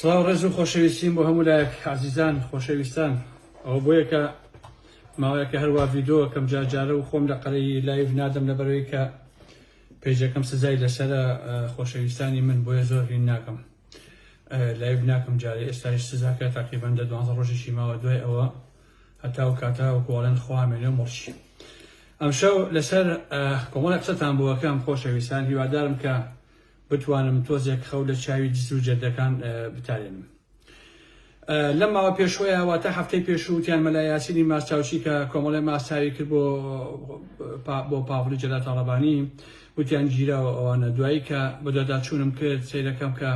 سڵاو ڕێز و خۆشەویستیم بۆ هەموو لایەک عزیزان خۆشەویستان ئەو بۆیەکە ماوەیەکە هەروە ڤیدۆ کەم جارجارە و خۆم لە قەرەی لایڤ نادەم لە بەرەوەی کە پێجەکەم سزای لەسرە خۆشەویستانی من بۆیە زۆر هین ناکەم لایڤ ناکەم جارێ ئێستاش سزاکە تاقیبەن لە دوانزە ڕۆژێکی ماوە دوای ئەوە هەتا و کاتا و گۆڵێن خوامێنێ مڵشی ئەمشەو لەسەر کۆمەڵە قسەتان بووەکەم خۆشەویستان هیوادارم کە بتوانم تۆزێک خەو لە چاوی دز و جەردەکان بتارێنم. لەم ماوە پێشوەیە واتە هەفتەی پێشوو وتیان مەلا یاسینی ماستاوچی کە کۆمەڵی ماستاوی کرد بۆ بۆ پاڤڵی جەلا تاڵەبانی وتیان گیراوە ئەوانە دوایی کە بەدەداچوونم کرد سیرەکەم کە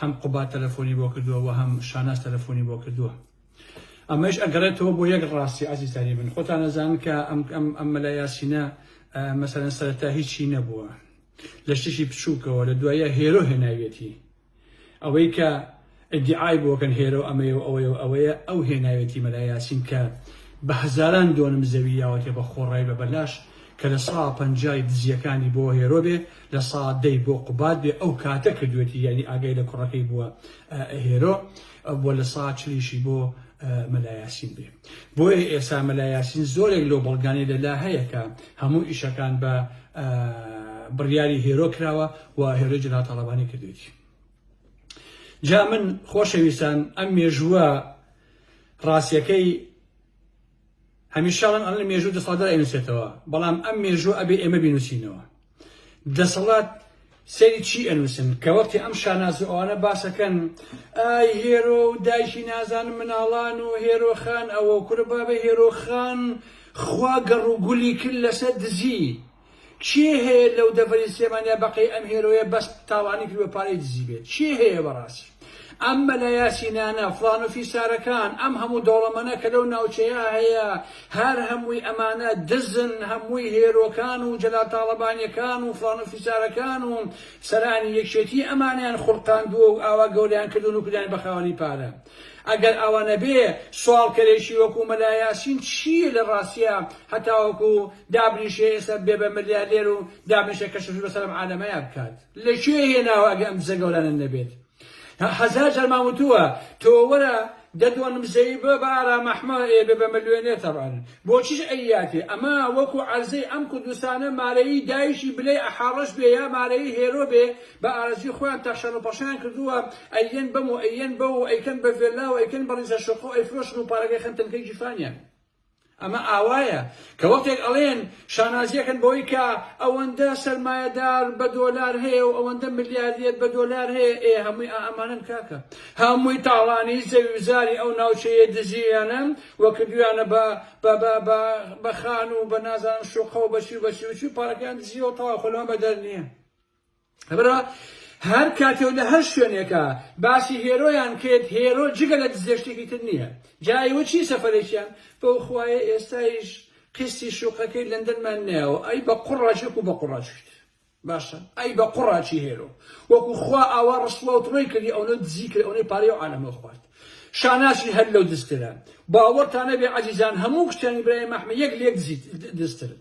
هەم قوبات تەلەفۆنی بۆ کردووە و هەم شاناز تەلەفۆنی بۆ کردووە ئەمەش ئەگەڕێتەوە بۆ یەک ڕاستی ئازیزانی من خۆتان نەزان کە ئەم ئەم ئەم مەلا یاسینە مەسەرەن سەرەتا هیچی نەبووە لە شتێکی بچووکەوە لە دوایە هێرۆ هێناویەتی ئەوەی کە ئەدعای بۆکەن هێرۆ ئەمەیە و ئەوەیە و ئەوەیە ئەو هێناوێتی مەلا یاسین کە بە هەزاران دۆنم زەوی یاوەتێ بە خۆڕای بە بەلاش کە لە سا پەنجای دزیەکانی بۆ هێرۆ بێ لە سا دەی بۆ قوبات بێ ئەو کاتە کردوێتی یعنی ئاگای لە کوڕەکەی بووە هێرۆ بۆ لە سا چلیشی بۆ مەلا یاسین بێ بۆیە ئێسا مەلا یاسین زۆرێک لەو بەڵگانەی لەلا هەیە کە هەموو ئیشەکان بە بڕیاری هێرۆ کراوە و هێرۆی جەناب تاڵەبانی کردوێتی جا من خۆشەویستان ئەم مێژووە ڕاستیەکەی هەمیشاڵم ئەم لە مێژوو دەسەڵدار ئەنووسێتەوە بەڵام ئەم مێژوو ئەبێ ئێمە بینوسینەوە دەسەڵات سەیری چی ئەنووسن کە وەختی ئەم شاناز و ئەوانە باسەکەن ئای هێرۆ و دایکی نازانم مناڵان و هێرۆخان ئەوە کورە بابە هێرۆخان خوا گەڕ و گولی کرد لەسەر دزی کێ هەیە لەو دەڤەری سێمانیا بەقەی ئەم هێرۆیە بەس تاوانی کرد بە پارەی دزی بێت کێ هەیە بەڕاستی ئەم مەلا یاسینانە فڵان و فیسارەکان ئەم هەموو دەوڵەمەنە کە لەو ناوچەیە هەیە هەر هەمووی ئەمانە دزن هەمووی هێرۆکان و جەلال تاڵەبانیەکان و فڵان و فیسارەکان و سەرانی یەکێتی ئەمانەیان خولقاندووە و ئاوا گەوریان کردوون و کردیان بە خاوەنی پارە ئەگەر ئاوا نەبێ سواڵکەرێکی وەکو مەلا یاسین چییە لە ڕاستیا هەتاوەکو دابنیشێ ئێستا بێ بە ملیارلێر و دابنیشێ کەشفش بەسەر ئەم عالەمەیا بکات. لە کوێ هێناوە ئەگە ئەم دزە گەورانە نەبێت هەزار جار مام وتووە تۆ وەرە دە دۆنم زەوی بە بە ئارام ئەحمە ئێ بە بە ملوێنێ تەبعەن بۆچیش ئەیاتێ ئەمە وەکو عەرزەی ئەم کوردستانە مارەیی دایکی بلەی ئەحاڕەش بێ یا مارەیی هێرۆ بێ بە ئارەزوی خۆیان تەخشەن و پەخشەیان کردووە ئەیەن بەم و ئەیەن بەو و ئەیکەن بە ڤێلا و ئەیکەن بە ڕیزە شوقە و ئەیفرۆشن و پارەکەی خەن تەنکەی گیرفانیان ئەمە ئاوایە کە وەختێک ئەڵێن شانازیەکەن بەوەی کە ئەوەندە سەرمایەدار بە دۆلار هەیە و ئەوەندە ملیاردێر بە دۆلار هەیە ئێ هەمووی ئامانن کاکە هەمووی تاڵانی زەویزاری ئەو ناوچەیە دزییانە وە کردویانە بە بە خان و بە نازانم شوقە و بەچی و بەچی وچی پارەکەیان دزیەوە تەوا خۆلمان بەدەر نییە لەبەرئەوە هەر کاتێ و لە هەر شوێنێکە باسی هێرۆیان کرێت هێرۆ جگە لە دزێ شتێکی تر نییە جا ئێوە چی سەفەرێکیان بەو خوایە ئێستایش قستی شوقەکەی لەندەنمان نایەوە ئەی بە قوڕاچێک و بە قوڕاچیت باشە ئەی بە قوڕاچی هێرۆ وەکو خوا ئاوا ڕسوا و تڕۆی کردی ئەوە دزی کرد ئەوەی پارەی و عالەمە خوارد شاناسی هەر لەو دزترە باوەڕتانە بێ عەزیزان هەموو کچانی برای مەحمە یەک لێک دزیت دزترن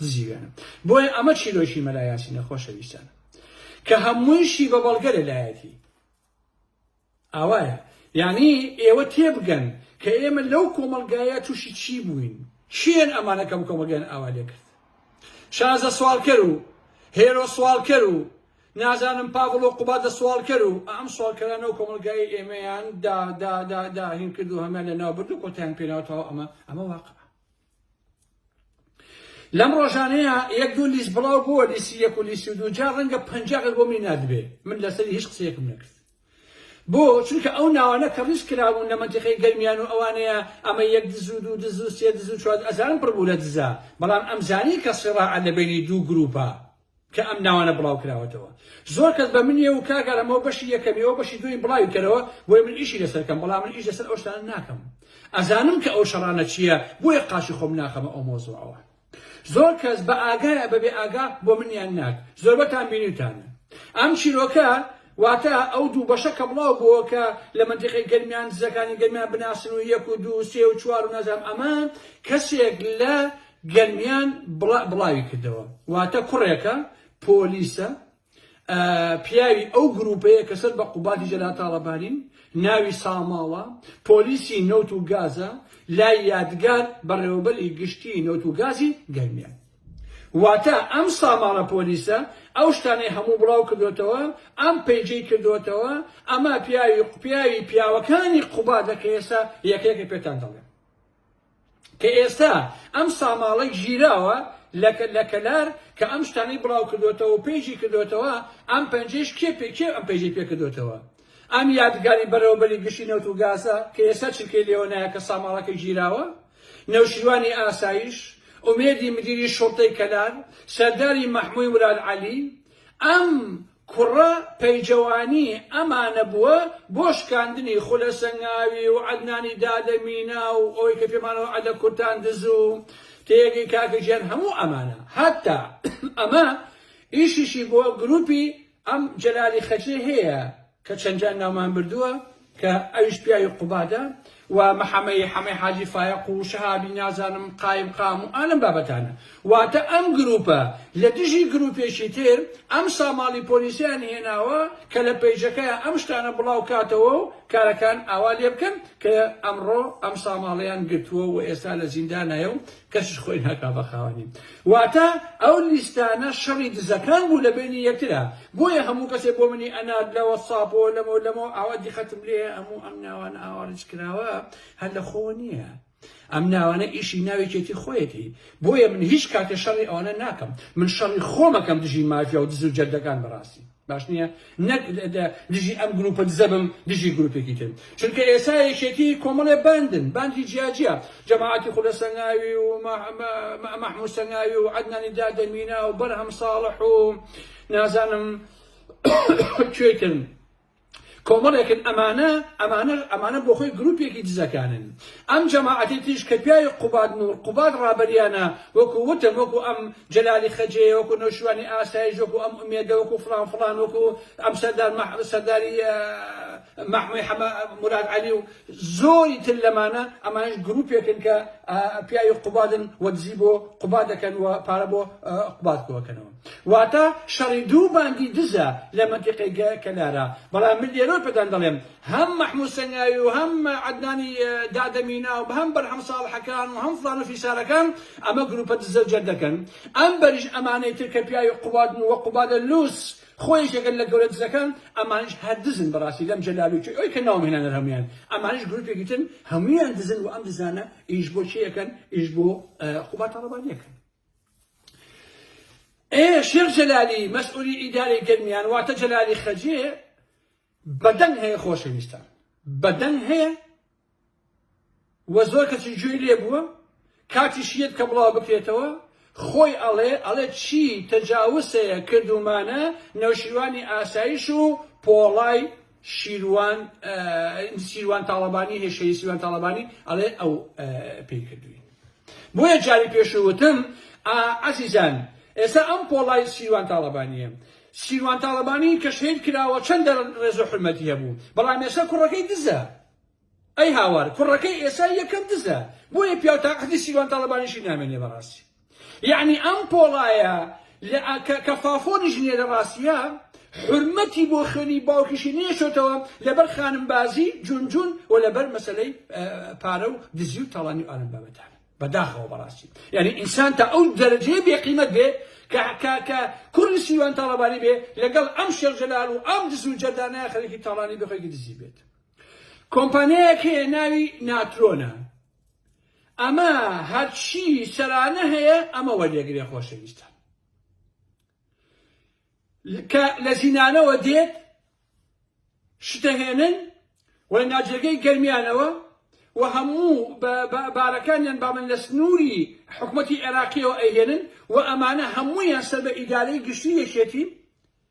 دزی وێنەم بۆیە ئەمە چیرۆکی مەلا یاسینە خۆشەویستان کە هەموویشی بە بەڵگە لەلایەتی ئاوایە یعنی ئێوە تێبگەن کە ئێمە لەو کۆمەلگایە تووشی چی بووین چێن ئەمانەکەم کۆمەگەن ئاوا لێ کرد شازە سوالکەر و هێرۆ سوالکەر و نازانم پاڤڵ و قوبا دە سوالکەر و ئەم سوالکەرانە و کۆمەلگای ئێمەیان داهین کرد و هەمان لە ناو برد و کۆتیان پێناوتەوە ئەمە ئەمە واقع لەم ڕۆژانەیە یەک دوو لیست بڵاو بووە لیسی یەک و لیسی دوو جا ڕەنگە پەنجاغێک بۆ مینادبێ من لەسەری هیچ قسەیەکم نەکرد بۆ چونکە ئەو ناوانە کە ڕیز کراون لە منتیقی گەرمیان و ئەوانەیە ئەمە یەک دزو دوو دزو سێ دزو چوار ئەزانم پڕبوو لە دزە بەڵام ئەمزانی کە سڕاعە لە بینی دوو گروپە کە ئەم ناوانە بڵاو کراوەتەوە زۆر کەس بە منیە و کاک ئارام ئەوە بەشی یەکەمی ئەوە بەشی دووەمی بڵاوی کەرەوە بۆیە من ئیشی لەسەر کەم بەڵام من ئیش لەسەر ئەو شتانە ناکەم ئەزانم کە ئەو شەڕانە چییە بۆیە قاچی خۆم ناخەمە ئەو مۆزوعەوە زۆر کەس بە ئاگایە بەبێ ئاگا بۆ منیان ناک زۆربەتان بینیوتانە ئەم چیرۆکە واتە ئەو دوو بەشە کە بڵاو بووە کە لە منتیقی گەرمیان دزەکانی گەرمیان بناسن و یەک و دوو سێ و چوار و نازام ئەمە کەسێک لە گەرمیان بڵاوی کردەوە، واتە کوڕێکە پۆلیسە پیاوی ئەو گرووپەیە کە سەر بە قوبادی جەلال تاڵەبانین، ناوی ساماڵە، پۆلیسی نەوت و گازە لای یادگار بەڕێوەبەری گشتی نەوت و گازی گەرمیان. واتە ئەم ساماڵە پۆلیسە ئەو شتانەی هەموو بڵاو کردوێتەوە، ئەم پەیجەی کردوێتەوە، ئەمە پیاوی پیاوی پیاوەکانی قوبادە کە ئێستا یەکەیەکە پێتان دەڵێم. کە ئێستا ئەم ساماڵەی گیراوە لە کەلار کە ئەم شتانەی بڵاو کردۆتەوە و پێیشی کردۆتەوە ئەم پەنجەیش کێ پێ کێ ئەم پەیجەی پێ کردۆتەوە ئەم یادگاری بەرەوبەری گشتی نەوت و گازە کە ئێستا چرکەی لێوە نایە کە ساماڵەکە گیراوە نەوشیروانی ئاسایش ئومێدی مدیری شوڕتەی کەلار سەرداری مەحموی مراد عەلی ئەم کوڕە پەیجەوانی ئەمانە بووە بۆ شکاندنی خولە سەنگاوی و عەدنانی دادە مینا و ئەوەی کە پێمانەوە عەدە کورتان دز و تێگەی کاکە گیان هەموو ئەمانە هەتا ئەمە ئیشیشی بۆ گروپی ئەم جەلالی خەجێ هەیە کە چەنجار ناومان بردووە کە ئەویش پیاوی قوبادە و محەمەی حەمەی حاجی فایەق و شەهابی نازانم قایم قام و ئالەم بابەتانە واتە ئەم گروپە لە دژی گروپێکی تر ئەم ساماڵی پۆلیسیان هێناوە کە لە پەیجەکەیا ئەم شتانە بڵاو کاتەوە و کارەکان ئاوا لێ بکەن کە ئەمڕۆ ئەم ساماڵەیان گرتووە و ئێستا لە زیندانایە و کەسیش خۆی ناکا بە خاوەنی. واتە ئەو لیستانە شەڕی دزەکان بوو لە بەینی یەکترا. بۆیە هەموو کەسێ بۆ منی ئەنارد لە وەتساپەوە لەمە و لەمەوە ئاوا دیقەتم لێیە هەموو ئەم ناوانە ئاوا ریچ کراوە هەر لە خۆوە نییە. ئەم ناوانە ئیشی ناوێکێتی خۆیەتی بۆیە من هیچ کاتێ شەڕی ئەوانە ناکەم من شەڕی خۆمەکەم دژی مافیا و دز و جەردەکان بەڕاستی. باش نییە نەک دژی ئەم گروپە دزە بم دژی گروپێکی تر چونکە ئێسا یەکێتی کۆمەڵێ باندن باندی جیاجیا جەماعاتی خولە سەنگاوی و مەحموو سەنگاوی و عدنانی دادەمینا و بەرهەم ساڵح و نازانم کوێتن کۆمەڵێکن ئەمانە ئەمانە ئەمانە بۆخۆی گروپێکی دزەکانن ئەم جەماعەتی تریش کە پیاوی قوباد نوڕ قوباد ڕابەریانە وەکو وتم وەکو ئەم جەلالی خەجێ وەکو نەوشیروانی ئاسایش وەکو ئەم ئومێدە وەکو فڵان فڵان وەکو ئەم سەردار مە سەرداری مەحموی حەمە مراد عەلی و زۆری تر لەمانە ئەمانش گروپێکن کە پیاوی قوبادن وە دزی بۆ قوباد دەکەن و پارە بۆ قوباد کۆکەنەوە واتە شەڕی دوو باندی دزە لە مەنتیقەی گە کەلارا بەڵام من لێرەوە پێتان دەڵێم هەم مەحموود سەنگاوی و هەم عەدنانی دادە مینا و هەم بەرهەم ساڵحەکان و هەم فڵان و فیسارەکان ئەمە گرووپە دزە و جەردەکەن ئەم بەریش ئەمانەی تر کە پیاوی قوبادن و وە قوبادە لووس خۆ یەکێکن لە گەورە دزەکان ئەمانیش هەر دزن بەڕاستی لەم جەلالووکێ ئەوی کە ناوم هێنانە هەموویان ئەمانیش گرووپێکی ترن هەموویان دزن و ئەم دزانە ئیش بۆ کێ ئەکەن ئیش بۆ قوباد تاڵەبانی ئەکەن. ئێ شێخ جەلالی مەسئولی ئیدارەی گەرمیان واتە جەلالی خەجێ بەدەنگ هەیە خۆشەویستان بەدەنگ هەیە وە زۆر کەچی گوێی لێ بووە کاتی شیت کە بڵاو بکرێتەوە خۆی ئەڵێ ئەڵێ چی تەجاوسەیە کردومانە نەوشیروانی ئاسایش و پۆڵای شیروان سیروان تاڵەبانی هەیە شەهید سیروان تاڵەبانی ئەڵێ ئەو پێی کردوین بۆیە جاری پێشوتم ئازیزان ئێستا ئەم پۆڵای سیروان تاڵەبانیە سیروان تاڵەبانی کە شەید کراوە چەند ڕێزۆ حرمەتی هەبوو بەڵام ێستا کوڕەکەی دزە ئەی هاوار کوڕەکەی ئێسای یەکەم دزە بۆیە پیاو تا عەهدی سیروان تاڵەبانیشی نامێنێ بەڕاستی یەعنی ئەم پۆڵایە کە فافۆنیش نیە لە ڕاستیە حرمەتی بۆ خوێنی باوکیشی نێشۆتەوە لەبەر خانم بازی جون جون و لەبەر مەسلەی پارە و دزی و تاڵانی و ئالم بابەتان بەداخەوە بەڕاستی یعنی ئینسان تا ئەو دەرەجەیە بێقیمەت بێ کە کوڕی سیوان تاڵەبانی بێ لەگەڵ ئەم شێخ جەلال و ئەم دز و جەردانە خەرێکی تاڵانی بخۆێکی دزی بێت کۆمپانیایەک هەیە ناوی ناترۆنە ئەمە هەرچی سەرانە هەیە ئەمە وەردەگرێ خۆشەویستان کە لە زینانەوە دێت شتەهێنن و ناجێگەی گەرمیانەوە و هەموو بارەکانیان بامن لە سنووری حکوومەتتی عێراقیەوە ئەهێنن و ئەمانە هەموویان سەر بە ئیدارەی گشتی یەکێتی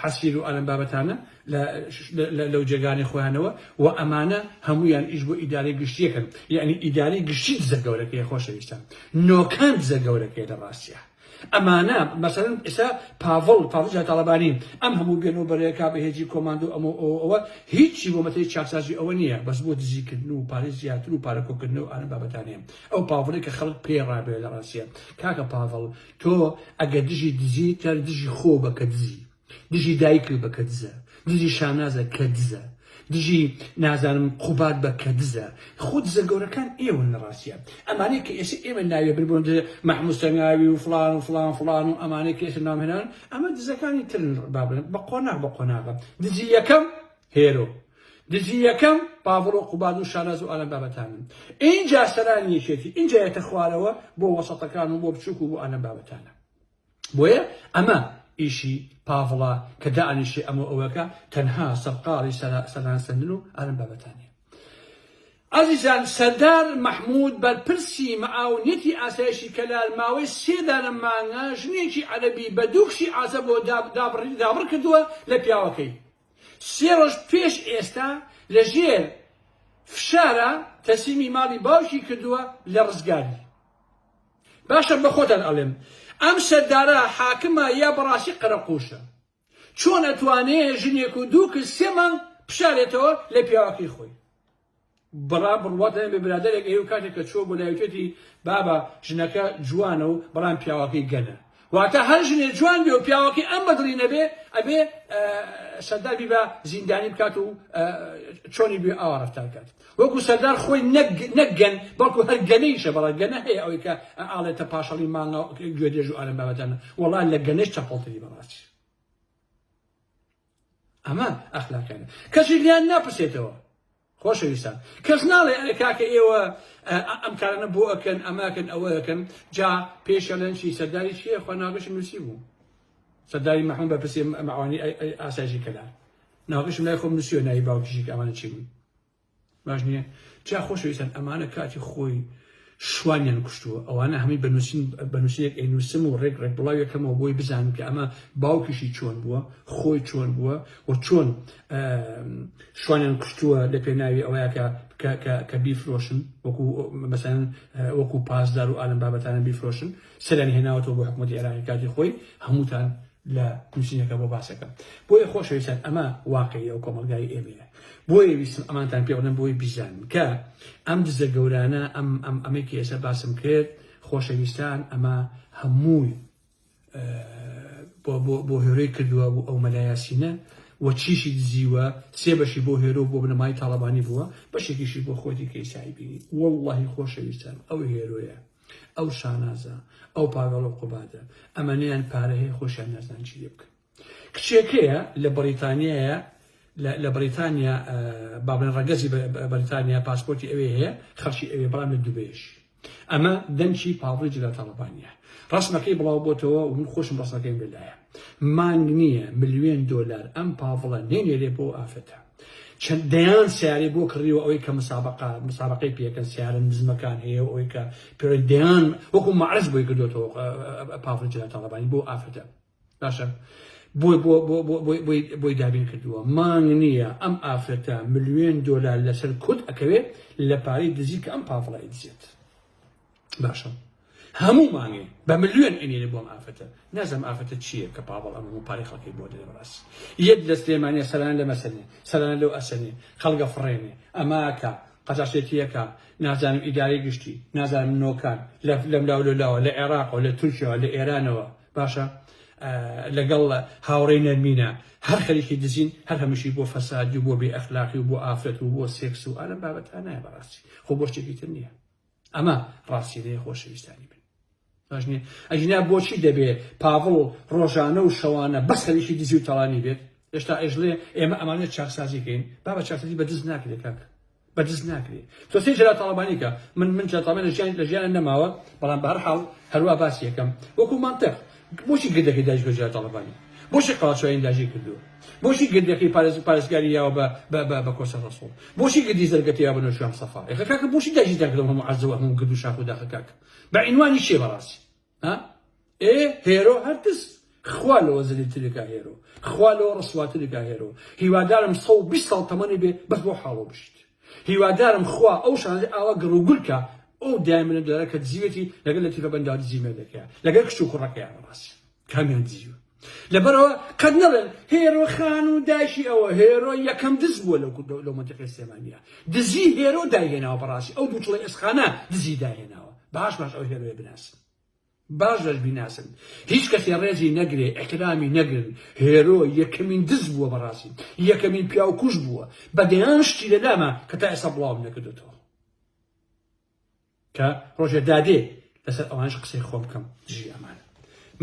حەسیر و ئالەم بابەتانە لە لەو جێگانەی خۆیانەوە و ئەمانە هەموویان ئیش بۆ ئیدارەی گشتیەکەن یعنی ئیدارەی گشتی دزە گەورەکەی خۆشەویستان نۆکان دزە گەورەکەی لە ڕاستە ئەمانە مەسەرن ئێستا پاڤڵ پاڤجا تاڵەبانی ئەم هەموو بێن و بەرەیەکا بە هێجی کۆماندۆ ئەمە ئەوە هیچی بۆ مەتەی چاکسازی ئەوە نییە بەس بۆ دزیکردن و پارێ زیاتر و پارەکۆکردن و ئارە بابەتانێن ئەو پاڤڵی کە خەڵک پێڕابێ لە ڕاستە کاکە پاڤڵ تۆ ئەگەر دژی دزی تەر دژی خۆ بە کە دزی دژی دایکل بە کە دزە دژی شانازە کە دزە دژی نازانم قوبات بە کە دزە خود دزە گەورەکان ئێوە لە ڕاستە ئەمانەی کە ئێستا ئێمە ناوێ بربوون محمود سەنگاوی و فلان و فلان فلان و ئەمانەی کە ئێستا نامێنان ئەمە دزەکانی ترن بابن بە قۆناغ بە قۆناغە دزی یەکەم هێرۆ دزی یەکەم پاڤڵ و قوباد و شاناز و ئالان بابەتانن ئینجا سەرانی یەکێتی ئینجا یەتە خوارەوە بۆ وەسەتەکان و بۆ بچووک و بۆ ئالان بابەتانە بۆیە ئەمە ئیشی پاڤڵە کە دانیشێ ئەمە ئەوەکە تەنها سەرقاڵی سەران سندن و ئالان بابەتانە ئازیزان سەردار مەحمود بەرپرسی مەعاونەتی ئاسایشی کەلار ماوەی سێ دانە مانگە ژنێکی عەرەبی بە دوو کشی عازە بۆ دابڕی دابڕ کردووە لە پیاوەکەی سێ ڕۆژ پێش ئێستا لە ژێر فشارا تەسلیمی ماڵی باوکی کردووە لە ڕزگاری باشە بە خۆتان ئەڵێم ئەم سەردارە حاکمە یا بەڕاستی قەرەقوشە چۆن ئەتوانێ ژنێک و دوو کز سێ مانگ پشارێتەوە لە پیاوەکەی خۆی برا بڕوات لەم بێ برادەرێک ئەیو کاتێک کە چووە بۆ لای وتێتی بابە ژنەکە جوانە و بەڵام پیاوەکەی گەنە واتە هەر ژنێ جوان بێ و پیاوەکەی ئەم بەدڵی نەبێ ئەبێ سەردار بیبا زیندانی بکات و چۆنی بێ ئاوا ڕفتار کات وەکو سەردار خۆی نەگەن بەڵکو هەر گەنەیشە بەڵە گەنە هەیە ئەوەی کە ئاڵێتە پاشەڵی مانگا گوێدێژ و ئالم بابەتەنە وەڵا لە گەنەش چەپەڵتری بەڕاستی ئەمە ئەخلاقیانە کەسی لیان ناپرسێتەوە خۆشەویستان کەس ناڵێ ئەرێ کاکە ئێوە ئەم کارانە بۆ ئەکەن ئەماکەن ئەوە ئەکەن جا پێشەلەنچی سەرداری چیە خۆ ناگەشی نووسی بوو سەرداری مەحمود بە پرسێ مەعوانی ئاسایشی کەلار ناگەشم لای خۆم نووسیوە ناوی باوکیشی ئەوانە چی بوون باش نیە جا خۆشەویستان ئەمانە کاتی خۆی شوانیان کوشتووە ئەوانە هەمووی بە نووسین بە نووسینێک ئەی نووسم و ڕێک ڕێک بڵاو یەکەمەوە بۆی بزانم کە ئەمە باوکیشی چۆن بووە خۆی چۆن بووە و چۆن شوانیان کوشتووە لە پێناوی ئەوەیەکە کە بیفرۆشن وەکو مەسەن وەکو پاسدار و ئالم بابەتانە بیفرۆشن سەریان هێناوەتەوە بۆ حکوومەتی عێراقی کاتی خۆی هەمووتان لە نوسینەکە بۆ باسەکەم بۆیە خۆشەویستان ئەمە واقعی ئەو کۆمەڵگای ئێمەیە بۆیە ویستم ئەمانتان پێ بڵێم بۆی بیزانن کە ئەم دزە گەورانە ئەم ئەم ئەمەی کە ئێستا باسم کرد خۆشەویستان ئەمە هەمووی بۆ هێرۆی کردووە بۆ ئەو مەلایاسینە و چیشی دزیوە سێ بەشی بۆ هێرۆ بۆ بنەمای تاڵەبانی بووە بەشێکیشی بۆ خۆتی کەیسایی بینی واللهی خۆشەویستان ئەو هێرۆیە ئەو شانازە ئەو پاگەڵە و قوبادە ئەمەنیان پارە هەیە خۆشیان نازان چی لێ بکەن کچێکەیە لە بەریتانیایە لە بەریتانیا بابن ڕەگەزی بەریتانیا پاسپۆرتی ئەوێ هەیە خەڵکی ئەوێ بەڵام لە دوبێش ئەمە دەنگی پاڵڕی جلە تاڵبانە ڕسمەکەی بڵاو بۆتەوە من خۆشم ڕسەکەیم لەلایە مانگ نییە ملیۆن دۆلار ئەم پاڤڵە نەینێرێ بۆ ئەو ئافرەتە چەند دەیان سیارەی بۆ کڕیوە ئەوەی کە مسابقە مسابقەی پێکەن سیارە نزمەکان هەیە و ئەوەی کە پێ دەیان وەکو معرز بۆی کردوێتەوە پاڤڵ جلال تاڵەبانی بۆ ئافرەتە باشە بۆی بۆ بۆ بۆ بۆی بۆی بۆی دابین کردووە مانگ نییە ئەم ئافرەتە ملیۆن دۆلار لەسەر کورد ئەکەوێت لە پارەی دزی کە ئەم پاڤڵە ئەیدزێت باشە هەمومانێ بە ملیۆن ئەنێرە بۆم ئافرەتە نازم ئافرەتە چییە کە پاوەڵ ئەم هەموو پارەی خەڵکی بۆ دەێ بەڕاست یەک لە سلێمانە سەران لە مەسەنێ سەران لەو ئەسەنێ خەڵگە فڕێنێ ئەماکە قەزاشێتیەکە نازانم ئیدارەی گشتی نازانم نۆکان لەم لاو لە لاوە لە عێراقەوە لە تورکیاوە لە ئێرانەوە باشە لەگەڵ هاوڕێ نەرمینە هەر خەریکی دزین هەر هەمشی بۆ فەسادی و بۆ بێ ئەخلاقی و بۆ ئافرەت و بۆ سێکس و ئالم بابەتانایە بەڕاستی خۆ بۆ شتێکی تر نییە ئەمە ڕاستیەیە خۆشەویستانی من باش نیە ئەگینا بۆچی دەبێ پاڤڵ ڕۆژانە و شەوانە بەس هەریکی دزی و تەڵانی بێت هێشتا ئێژڵێ ئێمە ئەمانە چاکسازیکەین با بە چاکسازی بە دز ناکرێت کاک بە دز ناکرێت تۆ سێ جرا تاڵەبانی کە من من جاتامە لە ژیان لە ژیان نەماوە بەڵام بەهر حاڵ هەروە باسی یەکەم وەکو منطق بۆچی گردەکەی داعش بە جار تاڵەبانی؟ بۆچی قەڵاچۆیانی داعشی کردووە؟ بۆچی گردەکەی پارێز پارێزگاری یاوە بە بە بە بە کۆسە ڕەسوڵ؟ بۆچی گردی زەرگەتە یاوە بە نەوشیروان سەفا؟ ئێخە کاکە بۆچی داعشیتان کردەوە هەموو عەرزە و هەموو گرد و شاخ و داخە کاکە؟ بە عینوانی چیە بەڕاستی؟ ها؟ ئێ هێرۆ هەر تس خوا لەوە زەلیلترێکا هێرۆ، خوا لەوە ڕسواترێکا هێرۆ، هیوادارم سەد و بیست ساڵ تەمەنت بێ بەس بەو حاڵەوە بژیت. هیوادارم خوا ئەو شانزەی ئاوا گڕ و گول کا ئەو دایمنە دارە کە دزیوێتی لەگەر لەتیفە بەنداو دزی مێردەکەیە لەگەر کچ و کوڕەکەیان ڕاسی کامیان دزیوە لەبەرەوە قەت نەڵێن هێرۆ خان و داشی ئەوە هێرۆ یەکەم دز بووە لەو لە منتقی سلێمانیا دزی هێرۆ داهێناوە بەڕاستی ئەو دووچڵی ئێسخانە دزی داهێناوە باش باش ئەو هێرۆیە بناسن باش دەش بیناسن هیچ کەسێ ڕێزی نەگرێ ئیحترامی نەگرن هێرۆ یەکەمین دز بووە بەڕاستی یەکەمین پیاو کوژ بووە بە دەیان شتی لەلاما کە تا ئێستا بڵاوم نەکردێتەوە کە ڕۆژێ دادێ لەسەر ئەوانش قسەی خۆم بکەم دژی ئەمان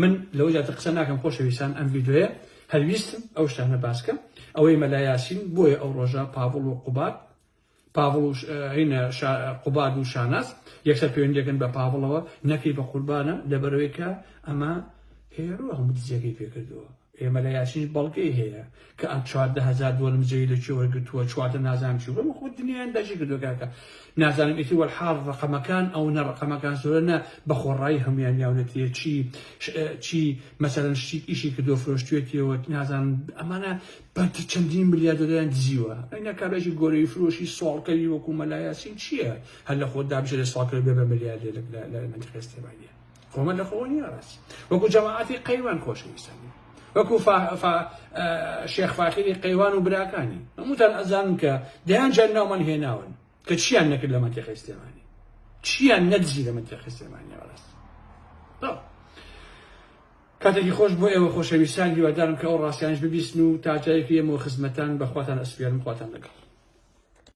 من لەوە زیاتر قسە ناکەم خۆشەویستان ئەم ڤیددیوەیە هەلویستم ئەو شتانە باسکە ئەوەی مەلایاسین بۆیە ئەو ڕۆژە پاڤڵ و قوبات پاڤڵ و هەینە شا قوباد و شاناز یەکسەر پەیوەندی دەکەن بە پاڤڵەوە نەکەی بە قوربانە لەبەرەوەی کە ئەمە هێرۆ هەموو دزیەکەی پێکردووە ئێمە لە یاسینی بەڵگەی هەیە کە ئەم چواردە هەزار دۆلم جێی لە کوێ وەرگرتووە چواردە نازانم چی بەمە خۆ دنیایان داگیر کردووە کاکە نازانم ئیتی وەلحاڵ ڕقەمەکان ئەو نە ڕقەمەکان زۆرە نە بە خۆڕایی هەمویان یاونەتیە چی چی مەسەلەن شتیک ئیشی کردووە فرۆشتوێتیەوە نازانم ئەمانە بانکی چەندین ملیاردەریان دزیوە ئەینا کابرایکی گۆرەوی فرۆشی سواڵکەری وەکو مەلا یاسین چییە هەر لە خۆت دابژێرێ سواڵکەر بێ بە ملیاردێر لە لە منتقی ئێستێماییە خۆمە لە خۆوە نییە ڕاستی وەکو جەماعەتی قەیوان خۆشەویستان نیە وەکو شێخ فاخری قەیوان و براکانی هەمووتان ئەزانن کە دەیان جار ناومان هێناون کە چیان نەکرد لە منتقی ئێستێمانی چیان نەدزی لە منتقی ئێستێمانی ڕاست کاتێکی خۆش بۆ ئێوە خۆشەویستان هیوادارم کە ئەو ڕاستیانەش ببیستن و تا جایەکی ئێمەوە خزمەتان بە خواتان ئەسپێرم خواتان لەگەڵ.